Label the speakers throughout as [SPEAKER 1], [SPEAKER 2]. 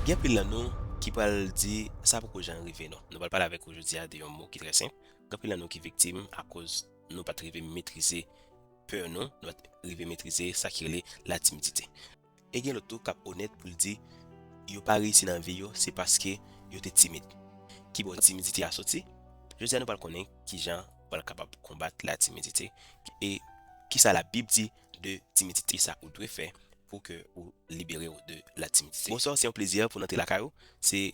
[SPEAKER 1] Gen anpil nan nou ki pral di sa poko jan rive nou. Nou pral pale avèk ou jodi a de yon mo ki trè senp. Gen anpil nan nou ki viktim akoz nou pat rive metrize pè nou, nou pat rive metrize sa ki rele la timidite. E gen lòt tou k ap onèt pou l di yo pa reyisi nan vi yo se paske yo te timid. Ki bò timidite a soti? Jodi a nou pral konnen ki jan ou pral kapab konbat la timidite e ki sa la bib di de timidite. Kisa ou dwe fè pou ke ou libere ou de la timidite? Bonsoir se yon plezi pou n antre lakay ou se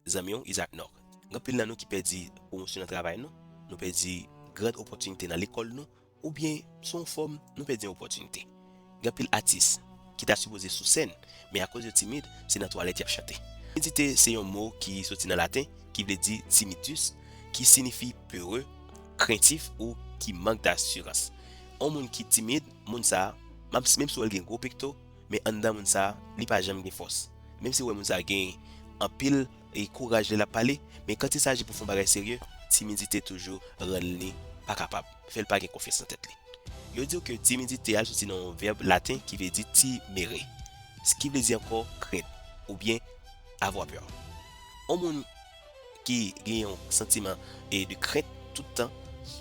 [SPEAKER 1] zanmi w Isaac Nord gen anpil nan nou ki pèdi pwomosyon nan travay nou nou pèdi gran opòtinite nan lekòl nou ou byen sou yon fòm nou pèdi yon opòtinite gen anpil atis ki ta sipoze sou sèn men akoz yo timid se nan twalèt y ap chante Timidite se yon mo ki soti nan laten ki vle di timidus ki sinifi peureux, craintif ou ki mank dasirans. On moun ki timid, moun sa, map si menm si wèl gen gwo pekto, men anndan moun sa, li pa janm gen fòs. Menm si wè moun sa gen anpil e kouraj lè lap pale, men kant il saji pou fon bagay serye, timidite toujou rann li pa kapab, fèl pa gen konfyans nan tèt li. Yo diw ke timidite a soti nan yon vèb laten ki vle di timere, s ki vle di ankò krent, oubyen avoir peur. On moun. ki gen yon santiman e de krent tout tan,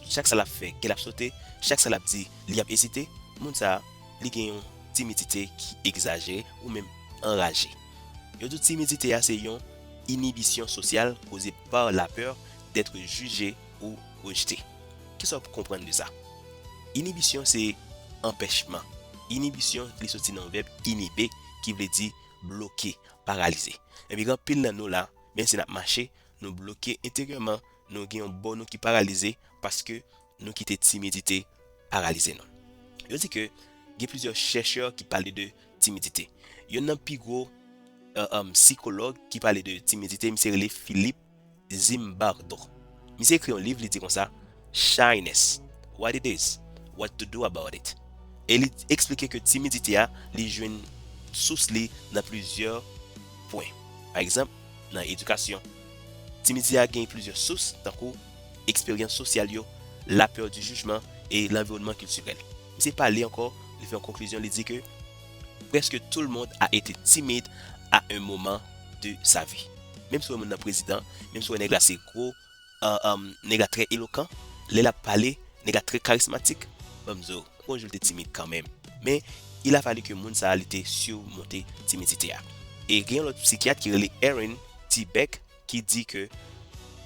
[SPEAKER 1] chak sa lap fè kèl ap sote, chak sa lap di li ap ezite, moun sa li gen yon timidite ki egzajere ou menm anraje. Yo di timidite a se yon inibisyon sosyal koze par la peur d'être jugé ou rejeté. Kisa w p konprann de sa? Inibisyon se anpèchman, inibisyon li soti nan vèb inhiber ki vle di bloke, paralize. Ebyen gen anpil nan nou la Men si n ap mache, nou bloke enteryèman, nou gen yon bò nou ki paralize paske nou kite timidite paralize nou. Yo di ke gen plizyè chèchè ki pale de timidite. Yonn nan pi gwo sikològ ki pale de timidite, misye rele Philippe Zimbardo. Misye ekri yon liv, li di konsa, Shyness, what it is, what to do about it, e li eksplike ke timidite a li jwenn sous li nan plizyè pwen. Pa egzanp, nan edikasyon, timidite a gen plizyè sous tankou eksperyans sosyal yo, la peur du jugement e lanviwònman kiltirèl. Misye pale ankò, li fè yon konklizyon li di ke Presque tout le monde a été timide à un moment de sa vie. Menm si w wè moun nan prezidan, menm si w wè nèg la se gwo Nèg la trè elokan, lè lap pale, nèg la trè karismatik, banm di w, gon jou li te timid kanmenm, men il a fallu ke moun sa li te surmonte timidite a. E gen yon lòt psikyat ki rele Aaron T. Beck ki di ke,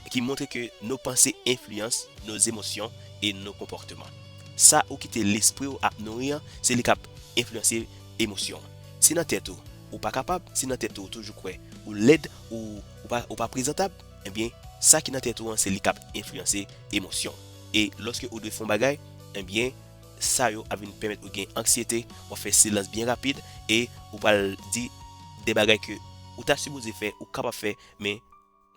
[SPEAKER 1] ki montre ke no panse enfliyans no zemosyon e no konpòteman. Sa ou kite lespri w ap nouri an, se li kap enfliyanse emosyon w. Si nan tèt ou, ou pa kapab, si nan tèt ou ou toujou kwè ou lèd, ou pa prezantab, Ebyen, sa ki nan tèt ou an se li k ap enfliyanse emosyon w. E lòske ou dwe fè yon bagay, ebyen sa yo ap vin pèmèt ou gen anksyete, w ap fè silans byen rapid e ou pral di de bagay ke ou ta sipoze fè, ou kapab fè men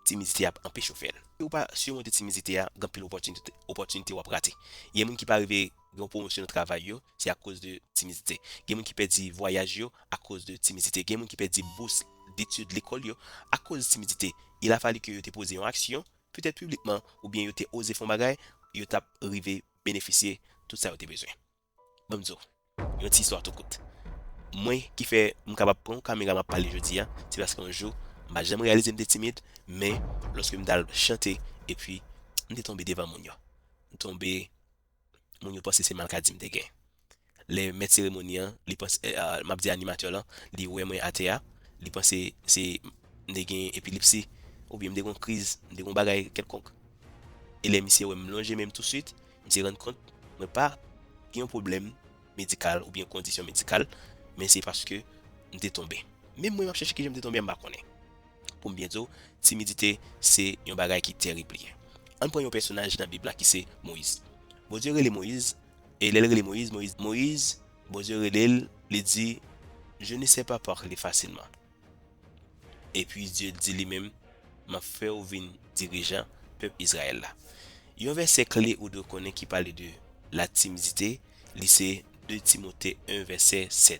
[SPEAKER 1] timidite ap anpeche w fè l. Si ou pa simonte timidite a, gen anpil opòtinite w ap rate. Gen moun ki pa rive. Gen pwomosyon nan travay yo, se akoz de timidite. Gen moun ki pèdi vwayaj yo akoz de timidite. Gen moun ki pèdi bous detid lekòl yo akoz timidite. Il a fallu que yo te poze yon aksyon, petèt piblikman, oubyen yo te oze fè yon bagay, yo t ap rive benefisye tout sa yo te bezwen. Ban m di w yon ti istwa tou kout. Mwen ki fè m kapab pran yon kamera m ap pale jodi a, se paske yon jou, m pa janm reyalize m te timid, men lòske m t al chante epi m te tonbe devan moun yo. M tonbe. moun yo panse se malkadi m te gen. Lè mèt seremoni an, li panse, m ap di animatè lan, li wè mwen atè a, li panse se m te gen epilipsi, oubyen m te gen yon kriz, m te gen yon bagay kèlkonk. E lè misye wè m lonje men m tousuit, misye rann kont mwen pa gen yon pwoblèm medikal oubyen yon kondisyon medikal, men se paske m te tonbe. Menm mwen m ap chèche kijan m te tonbe a m pa konnen. Pou m byen di w, timidite se yon bagay ki terib li ye. Ann pran yon pèsonaj nan Bib la ki se Moyiz. Bondye rele Moyiz, e lè l rele Moyiz, Moyiz di, Moyiz, Bondye rele l, li di, Je ne sais pas parler facilement. Epi Dye di li menm, M ap fè w vin dirijan pèp Izrayèl la. Yon vèsè kle ou dwe konnen ki pale de latimidite, li se 2 Timote 1 vèsè 7.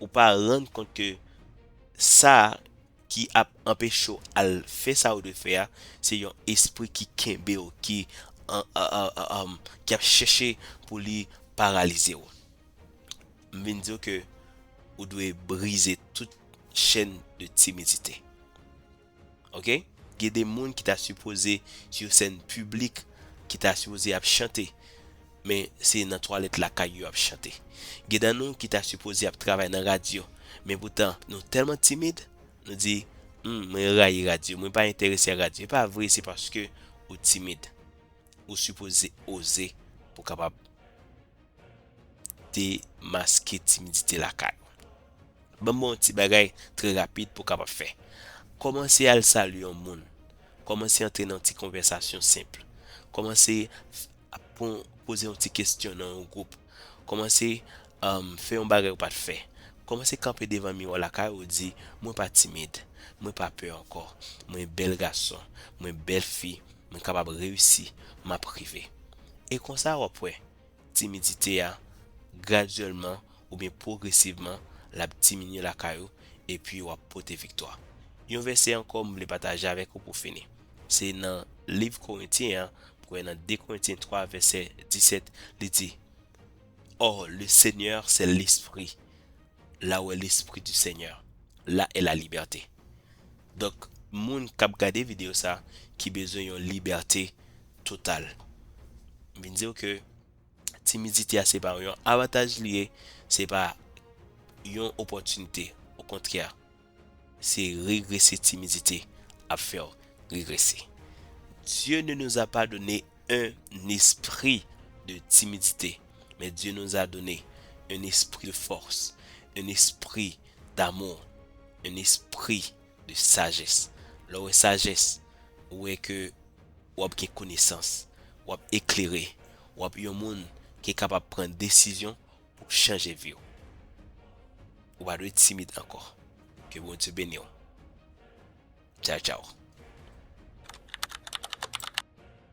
[SPEAKER 1] Ou pa rann kont ke sa ki ap anpeche w al fè sa ou dwe fè a, se yon espri ki kenbe w, ki ap chèche pou li paralize w. M vin di w ke ou dwe brize tout chèn de timidite. ok gen de moun ki ta sipoze sou yon sèn piblik ki ta sipoze ap chante men se nan twalèt lakay yo ap chante gen nan nou ki ta sipoze ap travay nan radyo men poutan nou tèlman timid nou di humm mwen rayi radyo mwen pa enterese ak radyo e pa vre se paske ou timid ou sipoze oze pou kapab demaske timidite lakay ou. Banm ba w yon ti bagay trè rapid pou w kapab fè. Kòmanse al salye yon moun. Kòmanse antre nan yon ti konvèsasyon senp. Kòmanse ap pran poze yon ti kesyon nan yon gwoup. Kòmanse fè yon bagay ou pa t fè. Kòmanse kanpe devan miwa lakay ou di, mwen pa timid. Mwen pa pè ankò. Mwen bèl gason. Mwen bèl fi. mwen kapab reyisi, m ap rive. E konsa w ap wè, timidite a, gradyèlman oubyen pwogresivman, l ap diminye lakay ou, epi w ap pote viktwa. Yon vèsè ankò m vle pataje avèk ou pou fini. Se nan liv Korentyen an, m kwè nan 2 Korentyen 3 vèsè 17, li di, Or, le Seigneur c'est l'Esprit, la ou est l'Esprit du Seigneur, la est la liberté. Donk moun kap gade video sa ki bezwen yon libète total. M vin diw ke timidite a se pa yon avataj li ye, se pa yon opòtinite o kontrè se regrese timidite ap fèw regrese. Dieu ne nous a pas donné un esprit de timidite men Dieu nous a donné un esprit de force, un esprit d'amour, un esprit de sagesse. Lè w wè sajès, ou wè ke w ap gen konesans, w ap eklere, w ap yon moun ki kapab pran desizyon pou chanje vi w. Ou pa dwe timid ankò. Ke Bondye beni w. Tchaw tchaw.